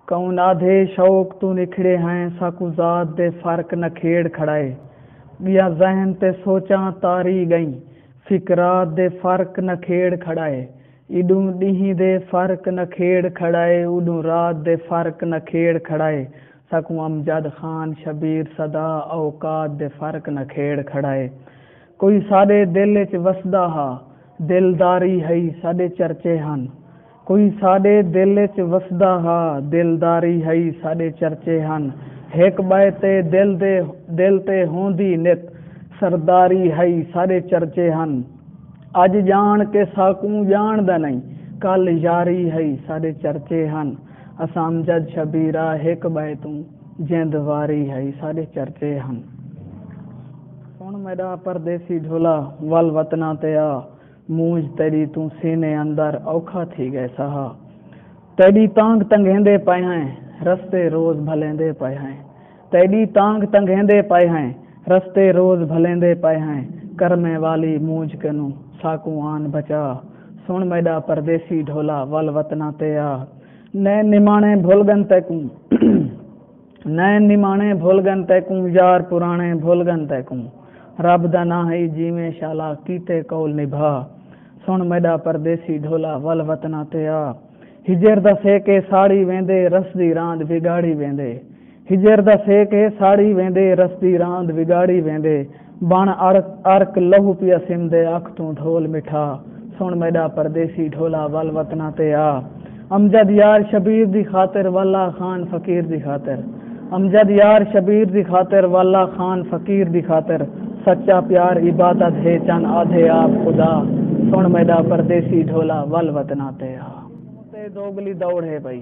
کئوں نادھے شوق توں نکھڑے ہیں ساکوں ذات دے فرق نکھیڑ کھڑائے ڳیاں ذہن تے سوچاں تاری ڳئیں فکرات دے فرق نکھیڑ کھڑائے ایݙوں ݙینہہ دے فرق نکھیڑ کھڑائے اوݙوں رات دے فرق نکھیڑ کھڑائے ساکوں امجد خان شبیر صدا اوقات دے فرق نکھیڑ کھڑائے کوئی ساݙے دل اچ وسدا ہا دلداری ہئی ساݙے چرچے ہن کوئی ساݙے دل اچ وسدا ہا دلداری ہئی ساݙے چرچے ہن ہک ٻئے تے دل دے دل تے ہوندی نت سرداری ہئی ساݙے چرچے ہن اڄ ڄاݨ کے ساکوں ڄاݨدا نئیں کل یاری ہئی ساݙے چرچے ہن اساں امجد شبیرا ہک ٻئے توں جند واری ہئی ساݙے چرچے ہن۔ سݨ میݙا پردیسی جھولا ول وطناں تے آ مونجھ تیݙی توں سینے اندر اوکھا تھی ڳئے سہا تیݙی تانگھ تنگھیندے پئے ہیں رستے روز بھلیندے پئے ہیں تیݙی تانگھ تنگھیندے پئے ہیں رستے روز بھلیندے پئے ہیں کرمیں والی مونجھ کنوں ساکوں آن بچا سݨ میݙا پردیسی جھولا ول وطناں تے آ نئیں نماݨے بھل ڳن تیکوں۔ نین نمانے بھل گن تیکوں یار پرانے بھل گن تیکوں رب دا ناں ہئی جیویں شالا کیتے قول نبھا سن میڈا پردیسی ڈھولا ول وطنا تے آ ہجر دا سیک اے ساڑی ویندے رس دی راند وگاڑی ویندے ہجر دا سیک اے ساڑی ویندے رس دی راند وگاڑی ویندے۔ بݨ ارک ارک لہو پیا سمدے اکھ توں ڈھول مٹھا سݨ میݙا پردیسی ڈھولا ول وطناں تے آ امجد یار شبیر دی خاطر واللہ خان فقیر دی خاطر امجد یار شبیر دی خاطر واللہ خان فقیر دی خاطر سچا پیار عبادت ہے چن آدھے آپ خدا سݨ میݙا پردیسی ڈھولا ول وطناں تے آ۔ توں تے دوگلی دوڑ ہے پئی۔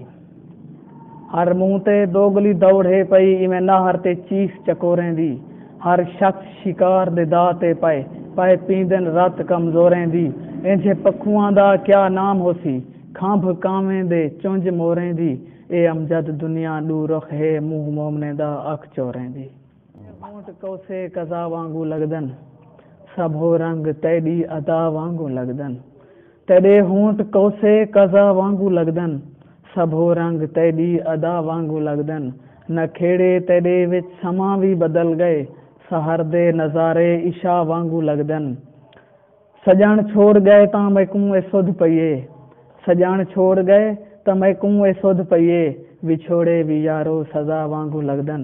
ہر منہ تے دوگلی دوڑ ہے پئی ایویں نہر تے چیخ چکوریں دی ہر شخص شکار دے دا تے پئے پئے پیندن رت کمزوریں دی اینجھے پکھواں دا کیا نام ہوسی کھمب کانویں دے چنج موریں دی اے امجد دنیا ڈو رخ ہے منہ مومنیں دا اکھ چوریں دی۔ تیڈے ہونٹ کوسے قضا وانگوں لگدن سبھو رنگ تیڈی ادا وانگوں لگدن تیڈے ہونٹ کوسے قضا وانگوں لگدن سبھو رنگ تیڈی ادا وانگوں لگدن نکھیڑے تیڈے وچ سماں وی بدل گئے سحر دے نظارے عشاء وانگوں لگدن سڄݨ چھوڑ ڳئے تاں میکوں اے سدھ پئی اے سڄݨ چھوڑ ڳئے تاں میکوں اے سدھ پئی اے وچھوڑے وی یارو سزا وانگوں لڳدن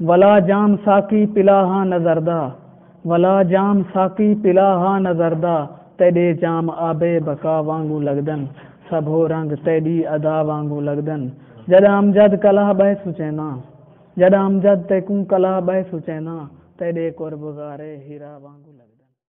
ولا جام ساقی پلا ہا نظر دا ولا جام ساقی پلا ہا نظر دا تیݙے جام آب بقا وانگوں لڳدن سبھو رنگ تیݙی ادا وانگوں لڳدن جݙاں امجد کلہا ٻہہ سچینداں جݙاں امجد تیکوں کلہا ٻہہ سچینداں تیݙے قرب غارے ہیرا وانگوں لڳدن۔